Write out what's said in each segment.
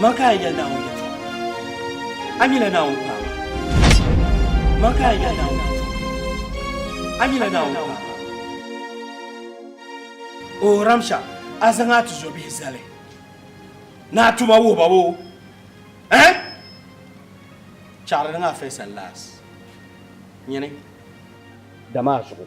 Man ka a yɛli Naawuni yɛltɔɣa. A nyɛla Naawuni paɣaba. Man ka a yɛli Naawuni yɛltɔɣa. A nyɛla Naawuni paɣaba. O Ramsha, a zaŋ a tizɔbihi zali ni a tuma wuhi ba boo? Ɛh? Chaɣiri niŋ afɛsa laas nyini. Dama a zuɣu.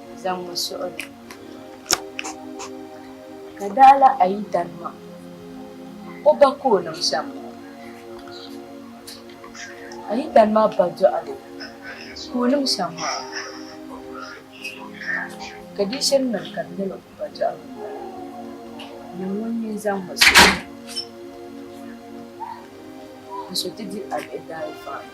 zaŋ mi suɣili. Ka daa la a yi tani ma, o ba ka o niŋ shɛm. A yi tani ma ba dɔɣili ka o niŋ shɛm maa, ka di shiri niŋ ka di nyɛla o ba dɔɣili maa, nyini ŋun mi zaŋ mi suɣili. N so ti di a bihi daalizɔŋ ni.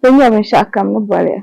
Ti nya binshɛɣu kam ni boli ya.